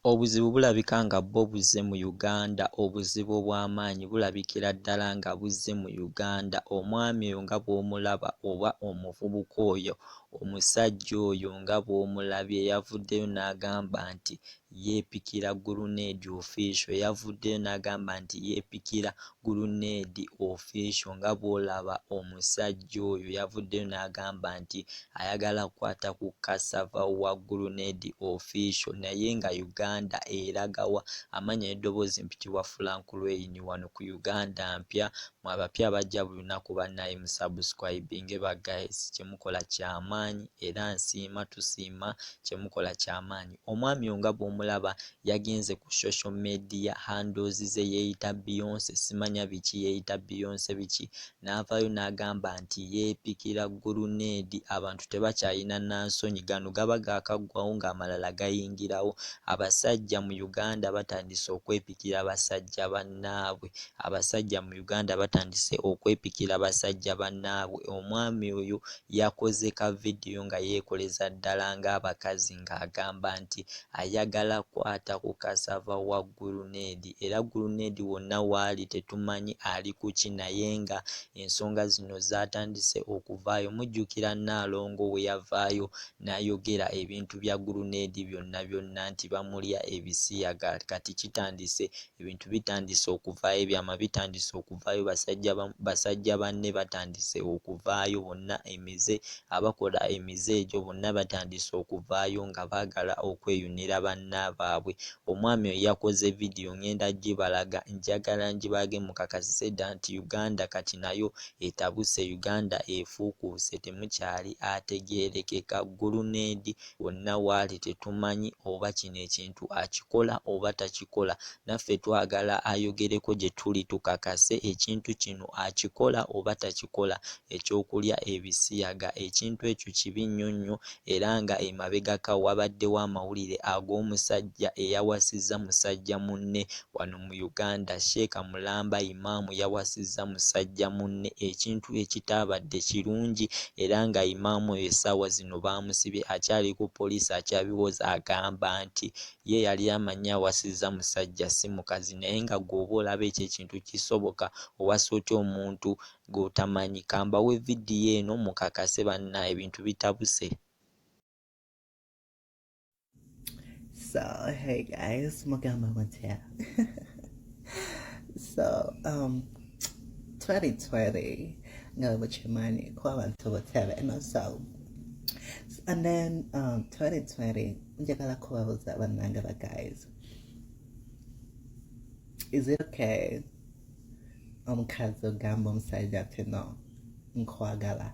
Obuzibu bulabika nga bwo buzze mu Uganda, obuzibu obw'amaanyi bulabikira ddala nga buzze mu Uganda, omwami oyo nga bw'omulaba oba omuvubuka oyo, omusajja oyo nga bw'omulabye yavuddeyo n'agamba nti yeepikira guluneedi ofiisho, yavuddeyo n'agamba nti yeepikira Guluneedi Official nga bw'olaba omusajja oyo yavuddeyo n'agamba nti ayagala kukwata ku Cassava wa Guluneedi Official naye nga Uganda eraga wa? Amannya n'eddoboozi mpitibwa Frank Lweyini wano ku Uganda Mpya mwe abapya bajja buli lunaku bannaaye mu subscribinge ba guys kye mukola kya maanyi era nsiima tusiima kye mukola kya maanyi omwami oyo nga bw'omulaba yagenze ku social media handles ze yeyita Beyonce simanya biki yeyita Beyonce biki navayo nagamba nti yepikira guluneedi abantu tebakyayina nansonyi gano gaba gakaggwawo nga amalala gayingirawo abasajja mu Uganda batandise okwepikira basajja banaabwe abasajja mu Uganda batandise okwepikira basajja banaabwe omwami oyo Yakoze ka vidiyo nga yeekoleza ddala ng'abakazi ng'agamba nti ayagala kwata ku kasaava wa guluneedi era guluneedi wonna w'ali tetumanyi ali ku ki naye nga ensonga zino zaatandise okuvaayo mujjukira Nnaalongo bwe yavaayo n'ayogera ebintu bya guluneedi byonna byonna nti bamulya ebisiyaga kati kitandise Ebintu bitandise okuvaayo, ebyama bitandise okuvaayo, basajja basajja banne batandise okuvaayo bonna emize, abakola emize egyo bonna batandise okuvaayo nga baagala okweyunira banna baabwe. Omwami oyo yakoze vidiyo ngenda gibalaga, njagala ngibalage mukakasise dda nti Uganda kati nayo etabuse, Uganda efuukuuse temukyali ategeerekeka, ggulu n'edi. wonna waali tetumanyi oba kino ekintu akikola oba takikola naffe twagala ayogereko gye tuli tukakase ekintu kino akikola oba takikola eky'okulya ebisiyaga ekintu ekyo kibi nnyo nnyo era nga emabegaka wabaddewo amawulire ag'omusajja eyawasizza musajja munne wano mu Uganda, Sheikh Mulamba Imam yawasizza musajja munne ekintu ekitaabadde kirungi era nga Imam oyo essaawa zino baamusibye akyali ku poliisi akyabiwoza agamba nti ye yali amanyi awasizza musajja si mukazi naye nga gwe oba olaba ekyo ekintu kisoboka owasa otya omuntu gw'otamanyi kambawe vidiyo eno mukakase bannaaye ebintu bitabuse. So, hey guys, Mugamba Matea. so, um, 2020, know what your money, Kwabantu Watera, and also, and then um, 2020, Njagala Kwabuza Banangaba guys. Is it okay? Omukazi ogamba omusajja ati no, nkwagala.